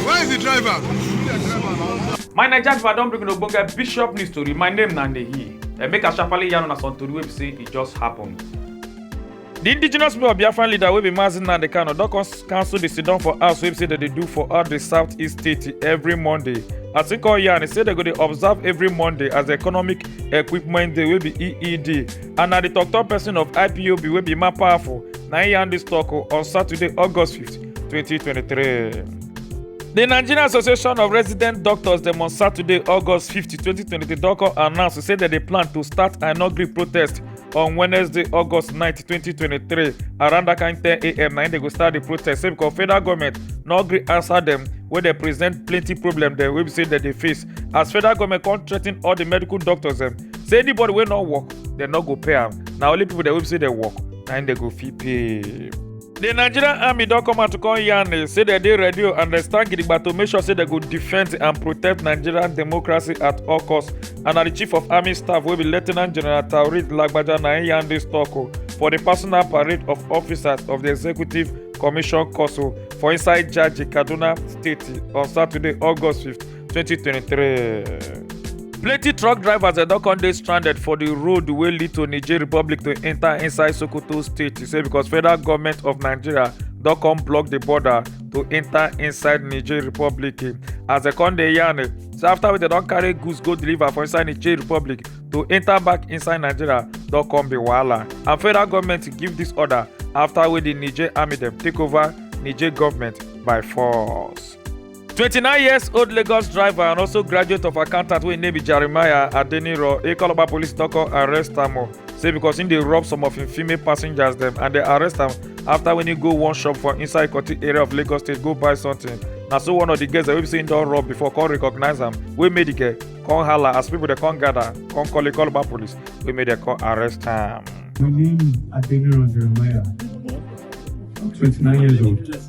Where is the driver? My Naija driver don bring una ogbonge bishop news tori. My name na Nehi. And make I sharply yarn una some tori wey be say e just happen. The indigenous people of Biafran leader wey be Mazi Nnamdi Kanu don con- cancel the sit-down for house wey be say dem dey do for all the southeast state every Monday. As he come yarn, he say dem go dey observe every Monday as the economic equipment day wey be EED and na di tok-tok pesin of ipob wey be man powerful na im yarn dis tok on saturday august 5 2023. di nigerian association of resident doctors dem on saturday august 5 2023 don come announce say dem dey plan to start a no gree protest on wednesday august 9 2023 around dat kain 10am na im dem go start di protest say becos federal goment no gree answer dem wey dey present plenty problem dem wey be say dem dey face as federal government come threaten all the medical doctors dem say anybody wey no work dem no go pay am na only people dem wey be say dem work na im dem go fit pay. The Nigerian army don come out to come yarn eh, say dem dey ready o and dem stand gidigba to make sure say dem go defend and protect Nigerian democracy at all costs and na the chief of army staff wey be Lieutenant General Taoreed Lagbaja na im yarn dis talk o for the personal parade of officers of the executive commission council for inside Jaji Kaduna State on Saturday August 15. 2023. plenty truck drivers dem don come dey stranded for di road wey lead to niger republic to enta inside sokoto state e say because federal goment of nigeria don come block di border to enta inside niger republic as dem come dey yarn say afta wey dem don carry goods go deliver for inside niger republic to enta back inside nigeria don come be wahala and federal goment give dis order afta wey di niger army dem take over niger goment by force. 29 years old Lagos driver and also graduate of accountant wey im name be Jeremiah Adeniro Ikoloba police don come arrest am o say because im dey rob some of im female passengers dem and dem arrest am after when he go one shop for inside Ikoti area of Lagos state go buy something na so one of the girls dem wey be say im don rob before come recognize am wey make the girl come hala as people dey come gather come call Ikoloba police wey make dem come arrest am. My name is Adeniro Jeremiah. I'm 29 years old.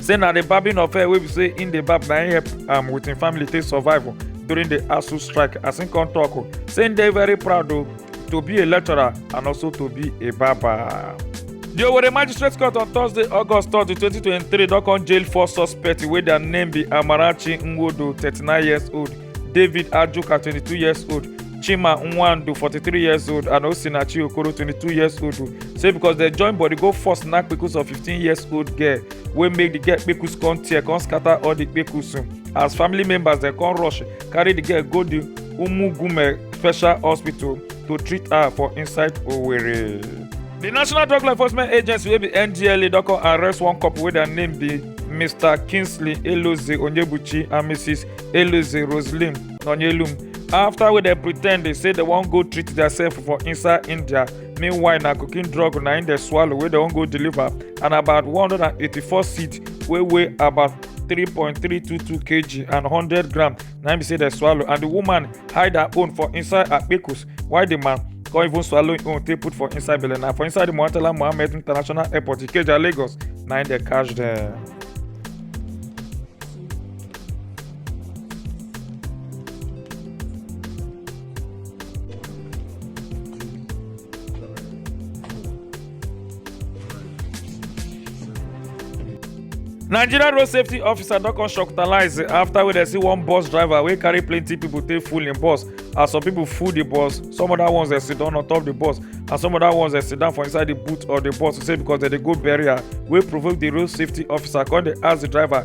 say na the barbing of hair wey be say im dey barb na im help am with im family take survive o during the asu strike as im come talk o say im dey very proud o to be a lecturer and also to be a barber. The Owerri Magistrate Court on Thursday, August 3, 2023, don come jail four suspects wey their name be Amarachi Nwodo, 39 years old, david ajoka twenty two years old chima nwandu forty three years old and osinachi okoro twenty two years old say because dem join body go force knack kpekus of fifteen years old girl wey make the girl kpekus come tear come scatter all the kpekus as family members dem come rush carry the girl go the umugume special hospital to treat her for inside owerri. di national drug law enforcement agency wey be ndla don come arrest one couple wey their name be mr kingsley eloze onyebuchi and mrs Eluzi Roselim Nonyelum after wey dem pretend dey say dem wan go treat theirself for inside India meanwhile na cocaine drug na im dem swallow wey dem wan go deliver and about 184 seed wey weigh about 3.322 kg and 100 gram na im be say dem swallow and the woman hide her own for inside her kpekus while the man come even swallow im own take put for inside belle na for inside the Murtala Muhammed International Airport Ikeja Lagos na im dem catch dem. nigeria road safety officer don come shocktalize after wey dem see one bus driver wey carry plenty people take full im bus as some people full the bus some other ones dey sit down on top the bus and some other ones dey sit down for inside the boot of the bus say because dem dey go burial wey provoke the road safety officer come dey ask the driver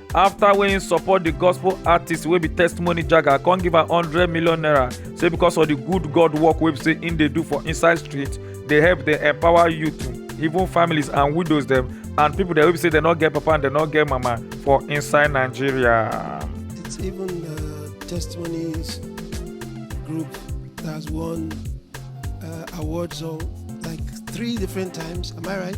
after wey im support di gospel artist wey be testimony jaga come give am hundred million naira say because of di good god work wey be say im dey do for inside street dey help dey empower youth even families and widows dem and pipo dem wey be say dem no get papa and dem no get mama for inside nigeria. It's even the testimonies group that has won uh, awards or like three different times. Am I right?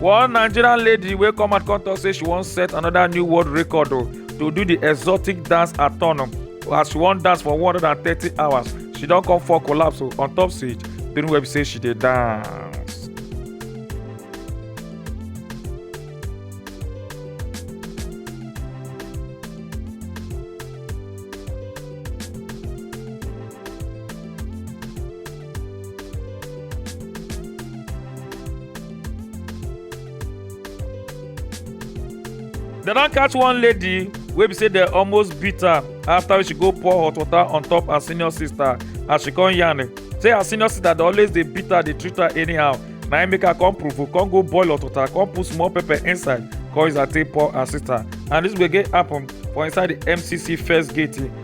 one nigerian lady wey come out come talk say she wan set another new world record o to do the exotic dance athon as she wan dance for 130 hours she don come fall collapse o on top stage during wey be say she dey dance. dem don catch one lady wey be say dem almost beat her after she go pour hot water on top her senior sister as she come yarn say her senior sister dey always dey beat her dey treat her anyhow na im make her come provoke come go boil hot water come put small pepper inside come use her take pour her sister and this gbege happen for inside the mcc first gate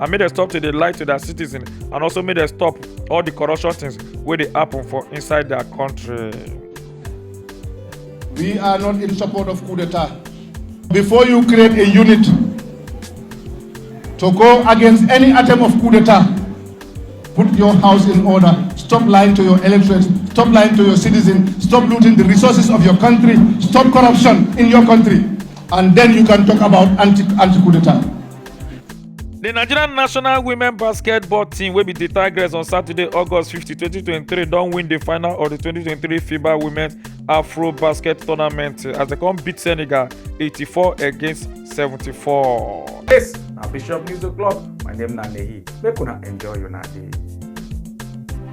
and make dem stop to dey lie to their citizens and also make dem stop all the corruption things wey dey happen for inside their country. We are not in support of coup d'etat. Before you create a unit to go against any attempt of coup d'etat, put your house in order. Stop lying to your electorates. Stop lying to your citizens. Stop looting the resources of your country. Stop corruption in your country. And then you can talk about anti, anti coup d'etat. di nigeria national women basketball team wey be di tigers on saturday august 50 2023 don win di final of di 2023 fiba women's afro basket tournament as dem come beat senegal 84 against 74. Yes, na Bishop News O'Clock. My name na Nehi. Make una enjoy una day.